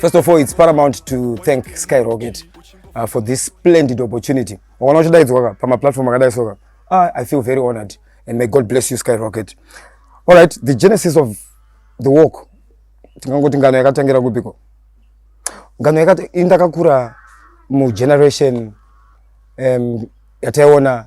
First of all, it's paramount to thank Skyrocket uh, for this splendid opportunity. Wakana uchidaidzwa pama platform akadai soka. Ah, I feel very honored and may God bless you Skyrocket. All right, the genesis of the walk. Tingangoti ngano yakatangira kupiko. Ngano yakati indakakura mu generation um, yataiona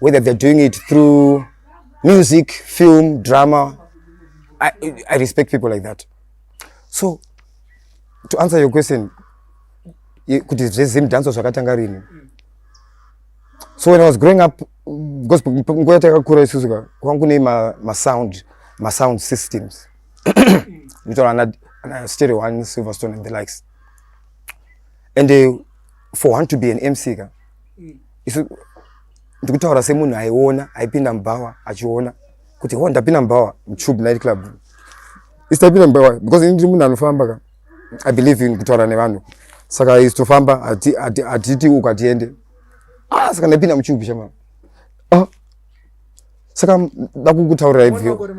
whether they're doing it through music film drama I, i respect people like that so to answer your question kuti zvezim danso zvakatanga rini so when i was growing up because nguva yatakakura isusu ka kwangu kune masound masound systems nditaura ana stereo one silverstone and the likes and uh, for one to be an mc ka mm. isu ndikutaura semunhu aiona aipinda mubhawa achiona kuti ho ndapinda mubhawa mtube night club isu taipinda mubhawa because ini ndiri munhu anofamba ka i believe in kutaura nevanhu saka isu tofamba hatiti uku hatiende ah saka ndaipinda mutube chama ah. saka ndakukutaurira ivyo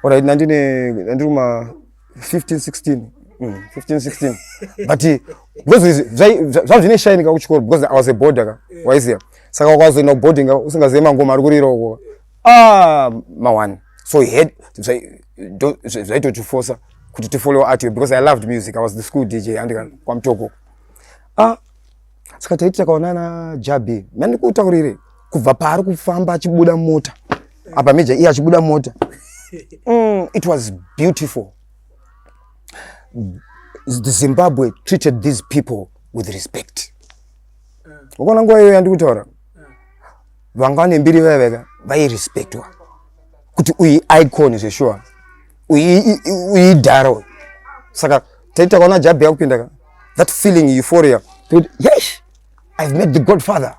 orit nandine nandiri kuma 15 16 mm, 15 16 but eh, because zvava zvine shine ka kuchikoro because i was a border ka yeah. waiziva saka wakazoenda kuboarding ka usingazive mangoma ari kurira uko ah mawani so he had zvaitotifosa kuti tifollow art because i loved music i was the school dj andika kwamtoko ah saka taiti takaona na jabi mandikutaurire kubva paari kufamba achibuda mota apa meja iye achibuda mota mm, it was beautiful the zimbabwe treated these people with respect ukaona nguva iyoyo yandikutaura vanga vane mbiri vaya vaka vairespectwa kuti uyi icon zveshuwa uyi idhara saka taiti takaona jabi yakupinda ka that feeling euphoria toti yes i've met the godfather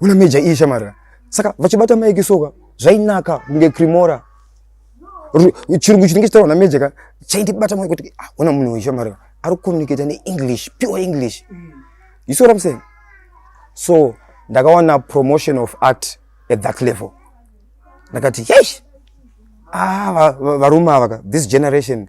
una major iyi shamara saka vachibata maiki soka zvainaka kunge crimora chirungu chinenge chitaurwa namajor ka chaindibata maiki kuti ah, ona munhu uyu shamara ari kucommunicata neenglish pure english you see what i'm saying so ndakawana promotion of art at that level ndakati yes ah, varume ava ka this generation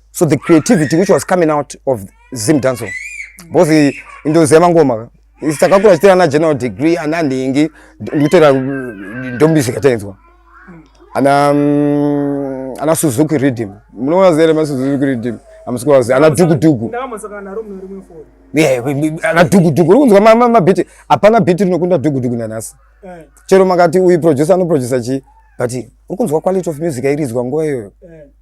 so the creativity which was coming out of zim danso because indoziva mangoma takakura chitera na general degree ana nhingi ndikutera ndombisika tainzwa ana mm, ana suzuki redeem munoona zere ma suzuki redeem amusikuwazi ana dukuduku ana dukuduku uri kunzwa mabhiti hapana bhiti rinokunda dukuduku nanhasi eh. chero makati uyu producer anoproducer chii but uri kunzwa quality of music airidzwa nguva iyoyo eh.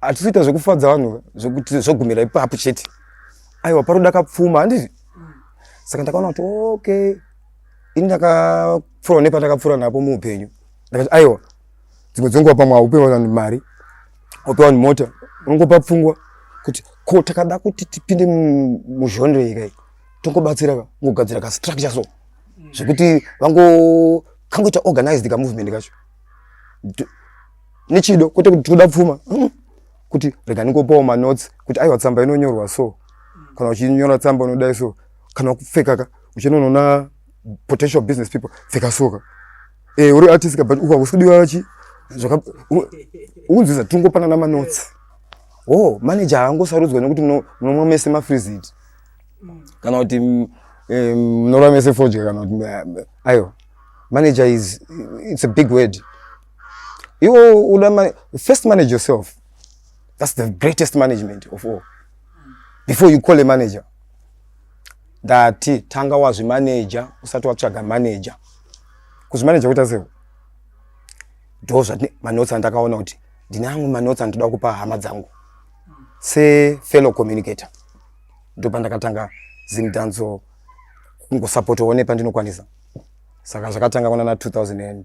hatisiita zvekufadza vanhu zvekuti zvogumira ipapo chete aiwa paroda kapfuma handiti saka ndakaona kuti okay ini ndakapfura nepandakapfura napo muupenyu ndakati aiwa dzimwe dzenguva pamwe haupewa vanhu mari haupewa vanhu mota unongopa pfungwa kuti ko takada kuti tipinde muzhonre yeka iyi tongobatsira ka ngogadzira kastructure so zvekuti vango kangoita organized kamovement kacho nechido kwete kuti tinoda pfuma hmm. kuti rega ndingopawo manotes kuti aiwa tsamba inonyorwa so kana uchinyora tsamba unodai so kana kupfekaka uchinonoona potential business people pfeka soka e, eh, uri artist but uka kusudiwa chi zvaka unzwiza tingopana na manotes oh manager angosarudzwa nekuti munomwa mese mafrizit kana kuti eh, munorwa mese fodya kana kuti eh, ayo manager is it's a big word iwo uda ma first manage yourself that's the greatest management of all before you call a manager ndati tanga wazvimaneja usati watsvaga maneja kuzvimaneja kuita sei ndo zvati manotsi andakaona kuti ndine amwe manotsi andoda kupa hama dzangu sefellow communicator ndo pandakatanga zimdanzo kungosapotowo nepandinokwanisa saka zvakatanga kunana 2000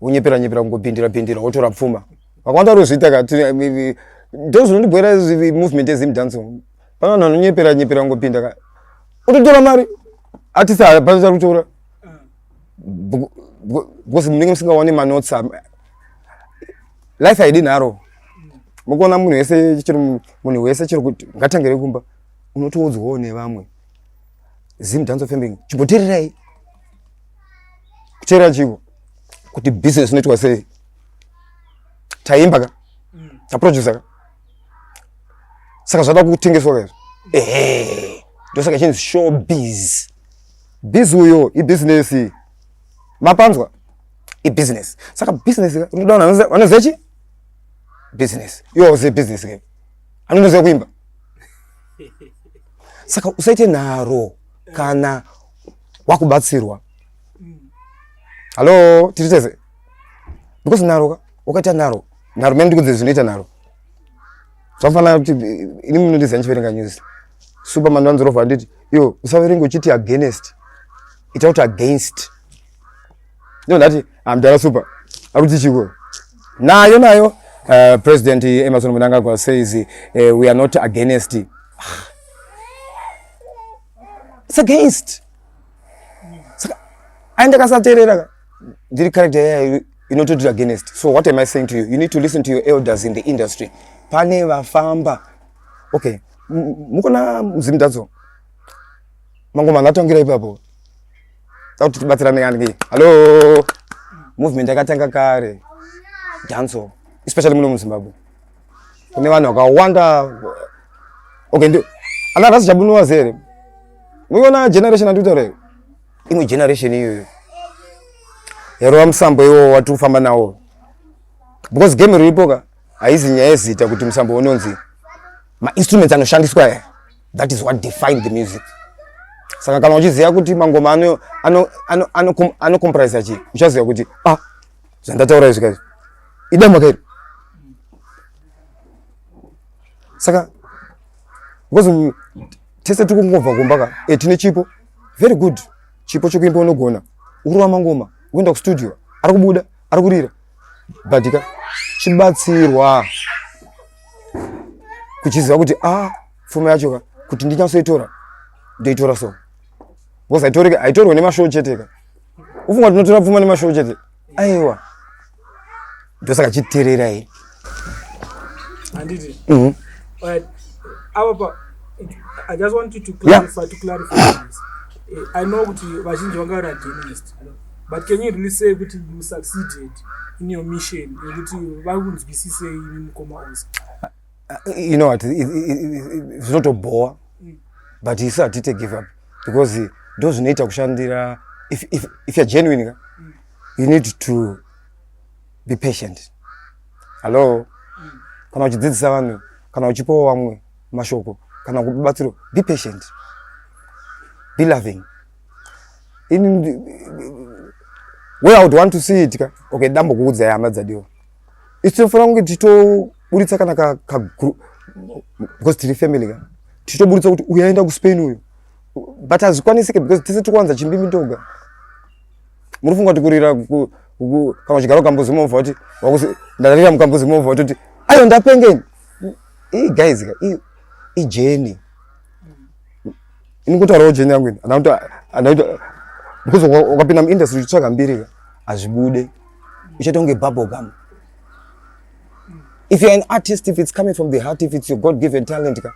wonyepera nyepera kungobhindira bhindira wotora pfuma vakawanda vanozviita ka ndo zvinondibhoera movement yezim dance pana vanhu vanonyepera nyepera kungopinda ka utotora mari atisi hapana chari kutora because munenge musingawani manotsi life haidi nharo mukuona munhu wese chiri munhu wese chiri kuti ngatangire kumba unotoudzwawo nevamwe zim dance of family chimbotererai kuteera chivo kuti business inoitwa sei taimba ka mm. taproducer ka saka zvada kutengeswa ka izvo ehe ndosaka chinzi show biz biz uyo ibusiness mapanzwa ibusiness saka business ka unoda vanhu vanoziva chi business iwo auzive business ka anonoziva kuimba saka usaite nharo kana wakubatsirwa hallo tiri tese because naro ka wakaita naro naro mene ndikunze zvinoita naro zvafanana kuti ini munondiziva ndichiverenga news superman vanzorova handiti iyo usaverenge uchiti against ita kuti against ndo ndati amdara super akuti chiko nayo nayo uh, president emerson munangagwa says uh, we are not against ah. It's against. Saka aende kasaterera ndiri character yaya inototi against. So what am I saying to you? You need to listen to your elders in the industry. Pane vafamba. Okay. Mukona mzimdadzo. Mangoma ngatangira ipapo. Takuti tibatsirane kanike. Hello. Movement yakatanga kare. Danzo. Especially muno muZimbabwe. kune vanhu vakawanda okay ndio ana rasi chabunwa zere muiona generation anditaura iyo imwe generation iyoyo yarova musambo iwo wati kufamba nawo because game riripo ka haizi nyaya yezita kuti musambo unonzi mainstruments anoshandiswa aya that is what define the music saka kana uchiziva kuti mangoma anocomprise ano, ano, ano achii uchaziva kuti ah zvandataura izvi kaizvi idamwa kairi saka because tese tiri kungobva kumba ka e tine chipo very good chipo chokuimba unogona ukurova mangoma ukuenda kustudio ari kubuda ari kurira but ka chibatsirwa kuchiziva kuti a ah, pfuma yacho ka kuti ndinyatsoitora ndoitora so because haitorwe nemashow chete ka ufunga tinotora pfuma nemashow chete aiwa ndosaka chiterera iyi handiti mhm. avapa i just want you to clarify, yeah. to clarify this. Eh, i know kuti vazhinji vanga vari against but can you really say kuti you succeeded in your mission yekuti vari kunzwisisei mukoma ose you know what zvinotobhowa mm. but isu hatite give up because ndo zvinoita kushandira if, if, if you're genuine ka mm. you need to be patient hallo mm. kana uchidzidzisa vanhu kana uchipawo vamwe mashoko kana kupa batsiro be patient be loving in where i would want to see it ka okay dambo kuudzai hama dzadiwa isu tinofanira kunge tichitoburitsa kana ka, ka because tiri family ka tichitoburitsa kuti uyu aenda kuspain uyu but hazvikwanisike because tese tiri kuwanza chimbimi ndoga munofunga kuti kurira kana uchigara ukambuzi movha kuti ndarira mukambuzi movha kuti ayo ndapengeni ii guys ka ijeni ini kutaurawo jeni yangu ini andakuti because ukapinda muindustry uchitsvaga mbirika hazvibude uchaita kunge babogam if you're an artist if it's coming from the heart if it's your god given talent ka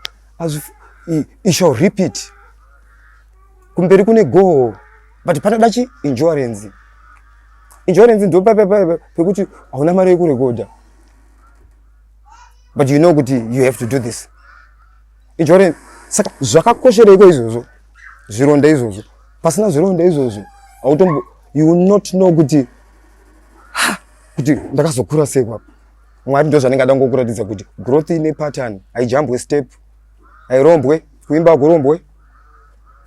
it shall rip it kumberi kune goho but panoda chi insurance insurance ndo pekuti hauna mari yekurekodha but you know kuti you have to do this ichore saka zvakakoshereiko izvozvo zvironda izvozvo pasina zvironda izvozvo autombo you will not know kuti kuti ndakazokura sei kwapa mwari ndo zvanenge ada ngokuratidza kuti growth ine pattern haijambwe step hairombwe kuimba akurombwe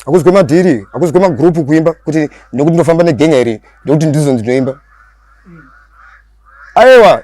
akuzwe madhiri akuzwe magroupu kuimba kuti nekuti ndinofamba negenya iri ndokuti ndizo ndinoimba aiwa